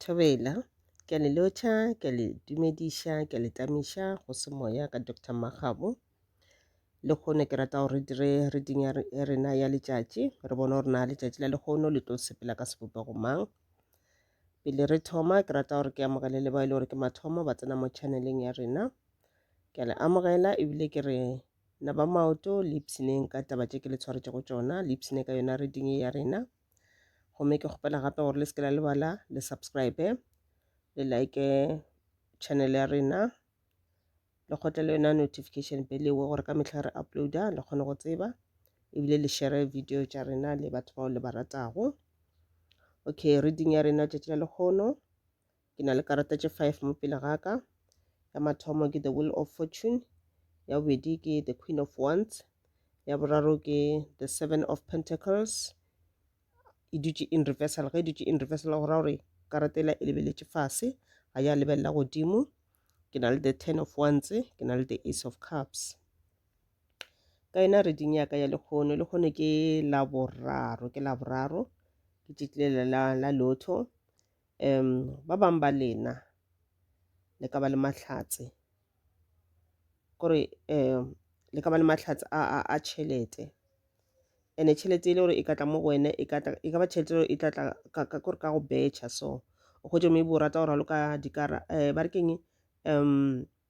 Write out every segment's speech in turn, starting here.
Thobela, ke a le lotšha, ke a le dumediša, ke a le tamiša go se moya ka Doctor Makgabo. Lekgono ke rata gore re dire reading ya re- ya rena ya letšatši re bone gore na letšatši la lekgono le tlo sepela ka sebopego mang. Pele re thoma ke rata gore ke amogele le bao e le gore ke mathomo ba tsena mo channeleng ya rena. Ke a le amogela ebile ke re na ba maoto le ipshineng ka taba tše ke le tshwaretšego tšona, le ipshine ka yona reading ye ya rena. gomme ke kgopela gape gore le se ke la lebala le subscribe le like channel ya rena le kgotle le yona notification bell ewe gore ka mehla re uploada le kgone go tseba ebile le share video tša rena le batho bao le ba ratago okay reading ya rena tšatši la lekgono Ke na le karata tše five mo pele ga ka. Ya mathomo ke The Wheel of Fortune, ya bobedi ke The Queen of Wands, ya boraro ke The Seven of Pentacles. E dutše in reversal, ge e dutše in reversal go ra gore karata ela e lebeletše fase, ga ya lebelela godimo. Ke na le The Ten of Wands, ke na le The Ace of Cups. Ka yona reading ya ka ya lekgono, lekgono ke la boraro, ke la boraro, ke tšetlile la, la lotho. um ba bangwe ba lena le ka ba le mahlatse kore um le ka ba le mahlatse a, a, a tšhelete ene tšhelete e le gore e ka tla mo go wena e ka tla- e ka ba tšhelete e le gore e tla tla ka, ka, kore ka go betšha so o hwetše maybe o rata go raloka dikara um ba re keng um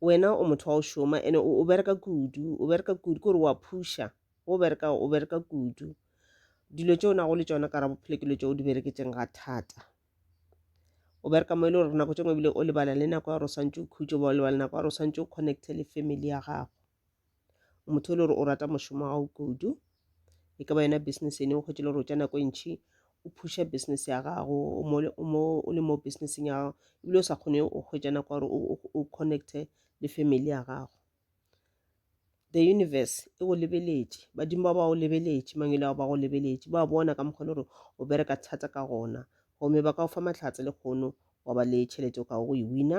wena o motho wa go šoma ene o bereka kudu o bereka kudu kore wa phuša o bereka o bereka kudu dilo tse o nago le tsona kara bophelo ke dilo tse o di bereketseng ga thata o bereka mo e le gore nako tse ngwe ebile o lebala le nako ya gore o swantse o khutse ba o lebala nako ya gore o swantse o connecte le family ya gago motho e le gore o rata mošomo wa gago kudu e ka ba yona business ene o kgwetše le gore o tša nako e ntšhi o phusha business ya gago o le mo businesseng ya gago ebile o sa kgone o kgwetša nako gore o connecte le family ya gago the universe e go lebeletše badimo ba ba go lebeletše mangwele ao ba go lebeletše ba bona ka mokgwa le gore o bereka thata ka gona gomme ba ka go fa mahlatse le kgono wa ba le tšhelete o ka go e wina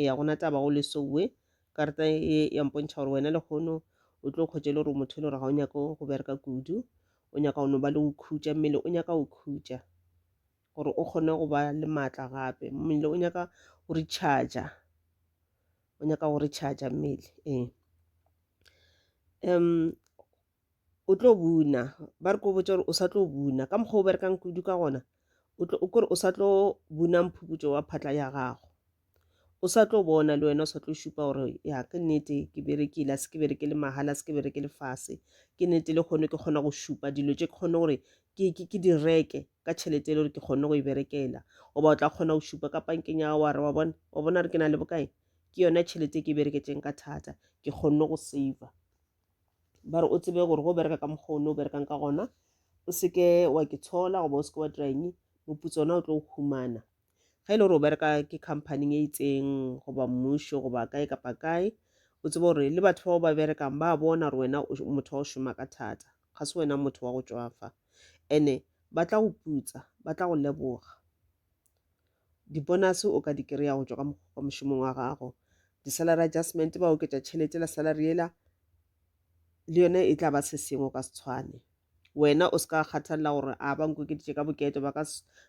eya go na taba go lesowe karata e ya mpontšha gore wena lekgono o tlo kgwetše le gore motho e le gore ga o nyako go bereka kudu o nyaka go no ba le go khutša mmele o nyaka go khutša gore o kgone go ba le maatla gape mmele o nyaka go recharger o nyaka go recharger mmele ee um o tlo buna ba re ko botsa gore o sa tlo buna ka mokgwa o berekang kudu ka gona o kore o sa tlo buna mphuputso wa phatla ya gago o sa tlo bona le wena o sa tlo šupa gore ya ke nnete ke berekile a se ke bereke le mahala a se ke bereke le fase ke nnete le kgone ke kgona go šupa dilo tše ke kgone gore ke di reke ka tšhelete e le gore ke kgone go e berekela goba o tla kgona go šupa ka pankeng ya gago wa re wa bona wa bona re ke na le bokae ke yona tšhelete e ke e bereketseng ka thata ke kgonne go saver ba re o tsebe gore go bereka ka mokgwa o ne o berekang ka gona o seke wa ke tshola goba o seke wa dira eng moputso ona o tlo o humana ga e le gore o bereka ke companyng e itseng goba mmušo goba kae kapa kae o tsebe gore le batho bao ba berekang ba bona gore wena motho wa go šoma ka thata ga se wena motho wa go tswafa ene ba tla go putsa ba tla go leboga Dibonase o ka di kry-a go tšwa ka mošomong wa gago. Di-salary adjustment ba oketša tšhelete la salary yela le yone e tla ba se sengwe o ka se tshwane wena o se ka kgathalela gore a ba nkokeditše ka boketo ba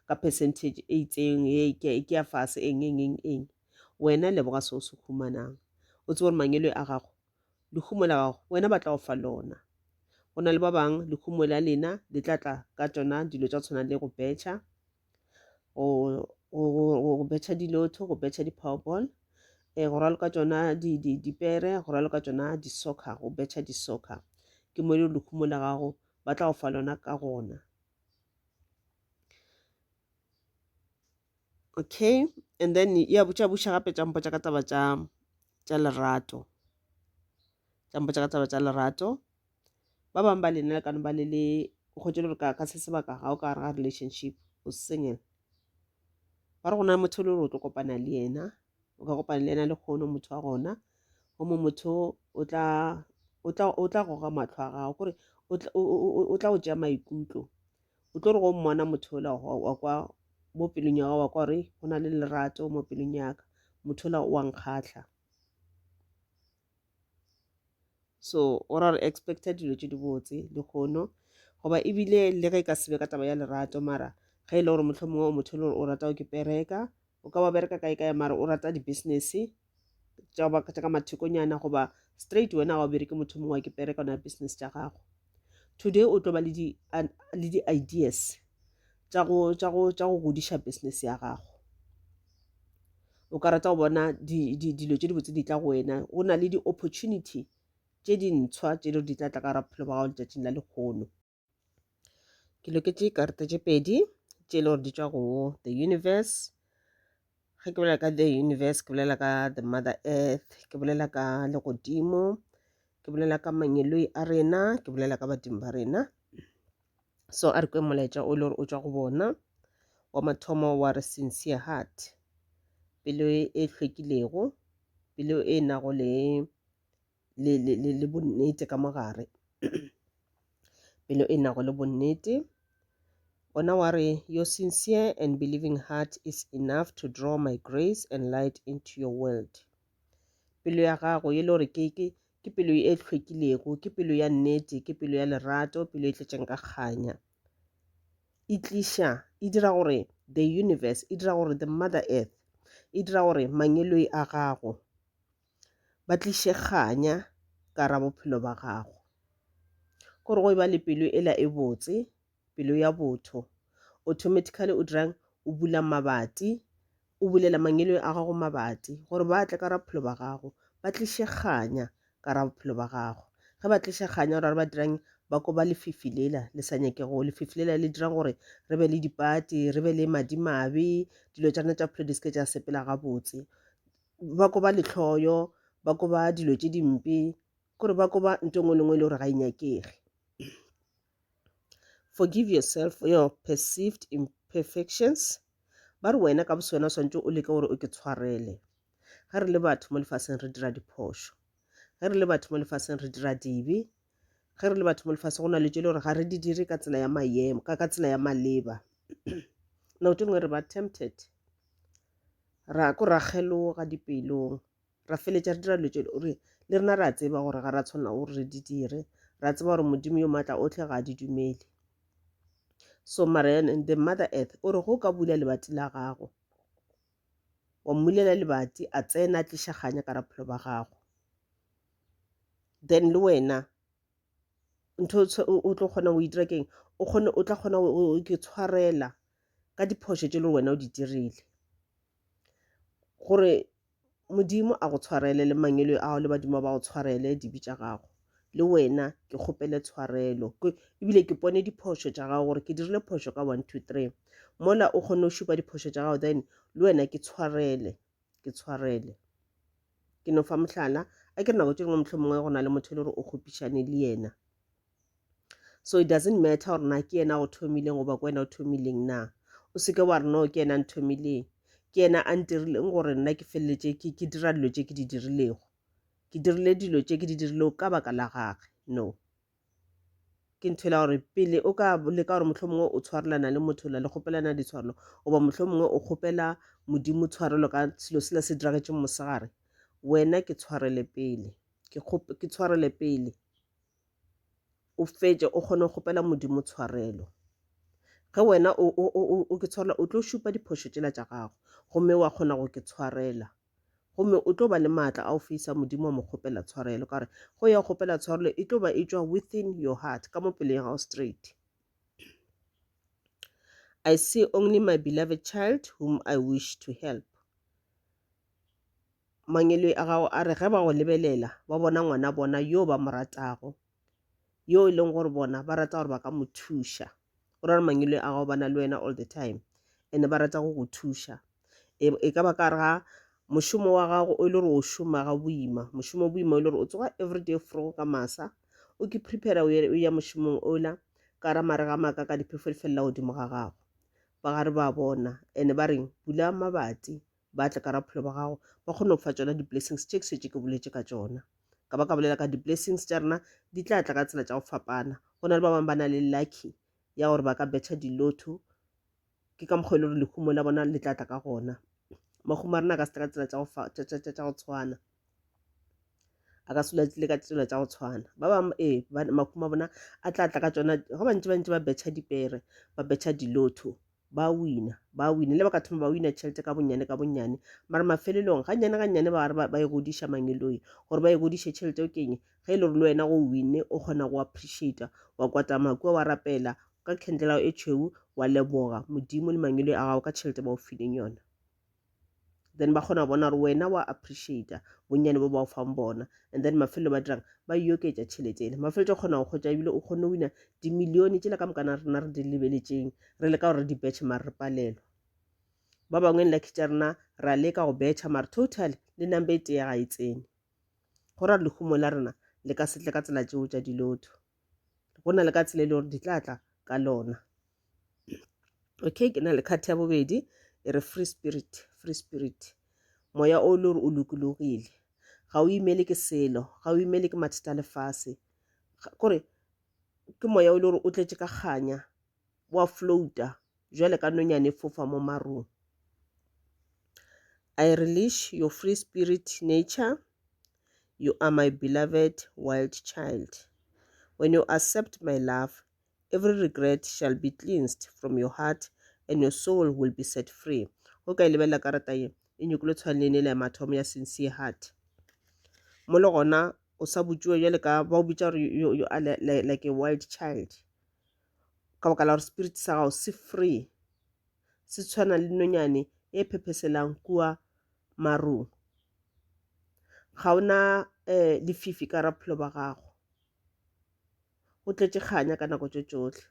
ka percentage e itseng e ke ya fase eng eng eng eng wena leboga se o se humanang o tse gore mangelo a gago lehumo la gago wena ba tla go fa lona go na le ba bangwe lehumo la lena le tla tla ka tsona dilo tsa tshwana le go betšha go, go, go, go go betšha dilotho go betšha di-powerball um go raloka tšona di, di, dipere go raloka tšona di-soccer go betšha di-soccer ke mo e le lekhumo la gago ba tla go fa lona ka gona okay and then ya botša buša gape tša mpotša ka taba tša tša lerato tša mpotša ka taba tša lerato ba bangwe ba lena le ka no ba le le o kgwetše le gore ka se sebaka ga o ka gare ga relationship o single ba re go na motho le gore o tlo kopana le yena o ka kopana le yena le kgono motho wa gona gomo motho o tla o tla o tla goga matlho a gago kore o tla o tšea maikutlo o tlo re go mmona motho ola wa kwa mo pelong ya gago wa kwa gore go na le lerato mo pelong yaka motho ola wa nkgatlha so o ra re expecta dilo tše di botse le kgono goba ebile le ge e ka sebe ka taba ya lerato mara ge e le gore motlho mongwe o motho e le gore o rata o ke pereka o ka ba bereka kae kae mara o rata di-business tša ka mathekonyana goba straight wena ga o bereke motho mongwe wa ke pereka ona business tša gago today o tlo ba le di le di ideas tša go tša go tša go godiša business ya gago o ka rata go bona dilo tše dibotse di tla go wena go na le di-opportunity tše dintshwa tše di di tla tla ka ra bophelo ba gago letšatšing la lekgono ke loketše karata tše pedi tše e le gore di tšwa go the universe ge ke bolela ka the universe ke bolela ka the mother earth ke bolela ka legodimo ke bolela ka mangeloi a rena ke bolela ka badimo ba rena so a re kwe molaetša o le gore o tswa go bona wa mathomo wa re sincere heart pelo e hlwekilego pelo e nago le le, le, le, le bonnete ka mo gare pelo e nago le bonnete gona wa re your sincere and believing heart is enough to draw my grace and light into your world pelo ya gago e le gore ke, ke, ke pelo e hlwekilego ke pelo ya nnete ke pelo ya lerato pelo e tletšeng ka kganya e tliša e dira gore the universe e dira gore the mother earth e dira gore mangeloi a gago ba tliše kganya ka ra bophelo ba gago. Gore go e ba le pelo e la e botse, pelo ya botho, automatically o dirang? O bula mabati, o bulela mangelo a gago mabati, gore ba tle ka ra bophelo ba gago, ba tliše kganya ka ra bophelo ba gago. Ge ba tliša kganya gore ba dirang? Ba koba lefifi lela le sa nyakego, lefifi lela le dirang gore re be le dipati, re be le madimabe, dilo tša rena tša bophelo di seke tša sepela gabotse. ba koba lehloyo ba koba dilo tše dimpe kore ba koba nto ngwe le ngwe e le gore ga e nyakege forgive yourself for your perceived imperfections ba re wena ka boswena o swantse o leke gore o ke tshwarele ge re le batho mo lefaseng re dira diphošo ge re le batho mo lefaseng re dira dibe ge re le batho mo lefase go na le tše le gore ga re di dire ka tsela ya mayemo ka ka tsela ya maleba nako tše ngwe re ba tempted ra ko ra kgeloga dipelong ra feletša re dira dilo tše gore le rena ra tseba gore ga ra tshwanela gore re di dire ra tseba gore modimo yo maatla otlhe ga a di dumele so mara the mother earth o re go ka bula lebati la gago wa mmulela lebati a tsena a tliša kganya ka raphelo ba gago then le wena ntho o tlo kgona go itira keng o kgone o tla kgona ke tshwarela ka diphošo tše le wena o di dirile gore modimo a go tshwarele le mangelo ao le badimo ba go tshwarele dibe tša gago le wena ke kgopele tshwarelo ebile ke pone diphošo tša gago gore ke dirile phošo ka one two three mola o kgone go šupa diphošo tša gago then le wena ke tshwarele ke tshwarele ke no fa mohlala a ke nako tše dingwe motlho mongwe go na le motho e le gore o kgopišane le yena so it doesn't matter gore na ke yena go thomileng goba ke wena o thomileng na o seke wa re no ke yena nthomileng ke yena a ntirileng gore nna ke feleletse ke dira dilo tše ke di dirilego ke dirile dilo tše ke di dirile ka baka la gage no ke ntho e la gore pele o ka leka gore mohlho mongwe o tshwarelana le motho la le kgopelana ditshwarelo goba mohlho mongwe o kgopela modimo tshwarelo ka selo sela se diragetšeng mosegare wena ke tshwarele pele ke tshwarele pele o fetše o kgone go kgopela modimo tshwarelo ge wena o ke tshwarela o tlo šupa diphošo tšela tša gago gomme wa kgona go ke tshwarela gomme o tlo ba le maatla a go feisa modimo wa mo kgopela tshwarelo ka gore go ya kgopela tshwarelo e tlo ba e tšwa within your heart ka mo pelong ya gago straight i see only my beloved child whom i wish to help mangelo a gago a re ge ba go lebelela ba bona ngwana bona yo ba mo ratago yo e leng gore bona ba rata gore ba ka mo thuša o ra gore mangwele a gago ba na le wena all the time and ba rata go go thuša e, e ka ba ka re ga mošomo wa gago o e le gore o šoma ga boima mošomo boima o e le gore o tsoga everyday fro ka masa o ke prepare o ya mošomong ola ka ra mare ga maaka ka diphefo di felela godimo ga gago ba gare ba bona and ba reng bula mabati ba tle ka ra bophelo ba gago ba kgone go fa tsona di-blessings tše ke swetše ke boletse ka tsona ka ba ka bolela ka di-blessings tša rena di tla tla ka tsela tša go fapana go na le ba bangwe ba na le lucky ya gore ba ka betha dilotho ke ka mokgwa e le gore lehumo la bona le tla tla ka gona mahumo a rena ka se tla ka tsela tša go tshwana a ka sula tlile ka tsela tša go tshwana ba bangwe ee makhuma bona a tla tla ka tsona go bantši bantši ba betšha dipere ba betšha dilotho ba wina ba wina le ba ka thoma ba wina tšhelete ka bonnyane ka bonnyane mara mafelelong ga nnyane ga nnyane ba ba e godiša mangeloi gore ba e godiše tšhelete o keng ge e le gore le wena go winne o kgona go appreciata wa kwata makua wa rapela ka khendlelao e tšhweu wa leboga modimo le mangeloi a gago ka tšhelete ba o fileng yona then ba kgona go bona gore wena wa appreciata bonnyane bo ba o fang bona and then mafelo ba dirang ba e oketša tšhelete ele mafelo tša kgona go kgotsa ebile o kgone wina dimilione tšela ka mokana rena re di lebeletšeng re leka gore re di betšhe mare re palelwa ba bangwe like tša rena ra leka go betšha mare total le number e tee ga e tsene go ra lehumo la rena le ka setle ka tsela tšeo tša dilotho go na le ka tsela e le gore di tla tla ka lona okay ke na le kgati ya bobedi e re free spirit free spirit moya o le gore o lokologile ga o imele ke selo ga o imele ke mathata a lefase kore ke moya o le gore o tletse ka kganya wa flouta jwale ka nonyane fofa mo marung I release your free spirit nature you are my beloved wild child when you accept my love every regret shall be cleansed from your heart and your soul will be set free o ka e lebelela karata ye e nyokolo tshwanelene le ya mathomo ya sincere heart mo le gona o sa botšiwa jale ka ba o bitša gore you are like a wild child ka baka la gore spirit sa gago se free se tshwana le nonyane e phepheselang kua marung ga ona um lefifi ka ra bophelo ba gago o tletše kganya ka nako tše tšohle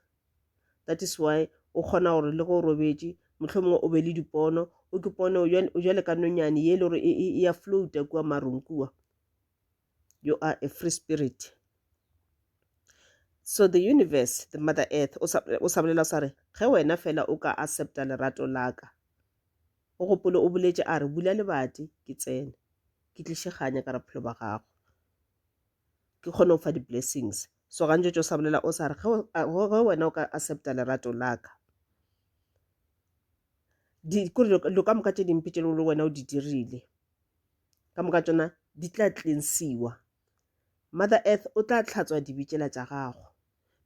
that is why o kgona gore le go o robetše motlho mongwe o be le dipono o ke pone o jale ka nonyane ye e le gore e ya floata kua marung kua you are a free spirit so the universe the mother earth o sa o sa bolela sa re ge wena fela o ka accepta lerato laka o gopole o boletše a re bula lebati ke tsene ke tlišeganya ka bophelo ba gago ke kgone go fa di-blessings so gantši tšo sa bolela o sa re ge wena o ka accepta lerato laka dilo ka moka tše dimpe tše le wena o di dirile ka moka tšona di tla cleansiwa mother earth o tla tlhatswa dibi tšela tša gago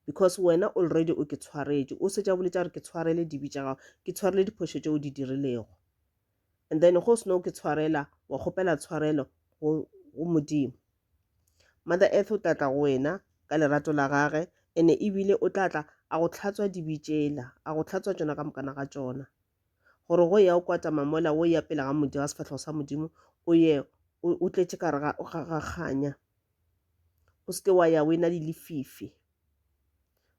because wena already o ke tshwaretše o setša bole tša gore ke tshwarele dibi tša gago ke tshwarele diphošo tše o di dirilego and then go seno ke tshwarela wa kgopela tshwarelo go modimo mother earth o tla tla go wena ka lerato la gage ene ebile o tla tla a go tlhatswa dibitšela a go tlhatswa tšona ka mokana ga tšona gore go ya o kwata mamola o ya pele ga modimo ga sefatlhego sa modimo o ye o tletše ka ga kganya o seke wa ya o e na le lefifi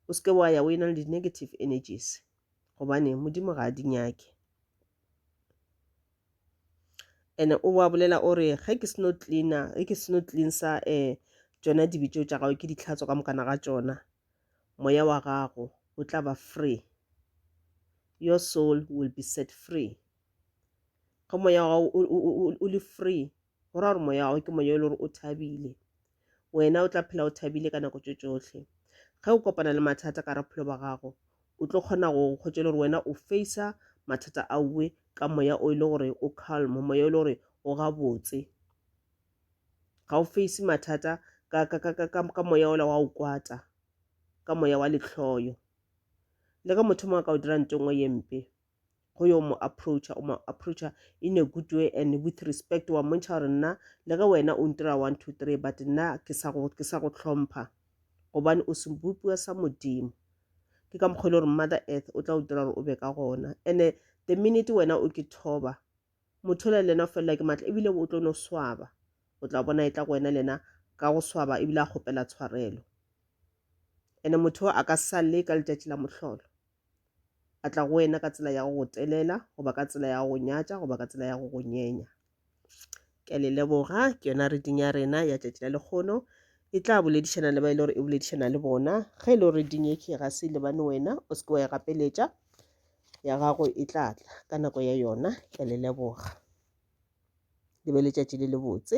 o seke wa ya o e na le di-negative energies gobane modimo ga a di nyake and o wa bolela o re ge ke seno cleaner ge ke seno cleansa um eh, tsona dibetšo tša gago ke ditlhatso ka mokana ga tsona moya wa gago o tla ba free your soul will be set free ge moya wa gago o le free go ra gore moya wa gago ke moya e le gore o thabile wena o tla phela o thabile ka nako tše tšohle ge o kopana le mathata ka raphelo ba gago o tlo kgona go kgotša le gore wena o facea mathata a uwe ka moya o e le gore o calm moya o e le gore o gabotse ga o face mathata ka, ka, ka, ka, ka, ka moya ola wa o kwata ka moya wa letlhoyo le ka motho mongwe ka o dira nto nngwe ye mpe go yo mo approacha o mo approacha in a good way and with respect wa mmontšha gore nna le ge wena o ntira one two three but nna ke sa go ke sa go tlhompha gobane o sebopiwa sa modimo ke ka mokgwa e le gore mother earth o tla o dira gore o be ka gona and-e the minute wena o ke thoba Mothola le yena o felelwa ke matla ebile o tlo no swaba. O tla bona e tla go wena le yena ka go swaba ebile a kgopela tshwarelo. Ene motho o a ka salle ka letšatši la mohlolo. A tla go wena ka tsela ya go go telela goba ka tsela ya go go nyatša goba ka tsela ya go go nyenya. Ke a le leboga. Ke yona reading ya rena ya tšatši la lekgono. E tla boledišana le ba e le gore e boledišana le bona. Ge e le gore reading ye ke e ga se e lebane wena, o se ke wa e gapeletša. ya gago e tla tla ka nako ya yona. Ke a le leboga. Le be letšatši le lebotse.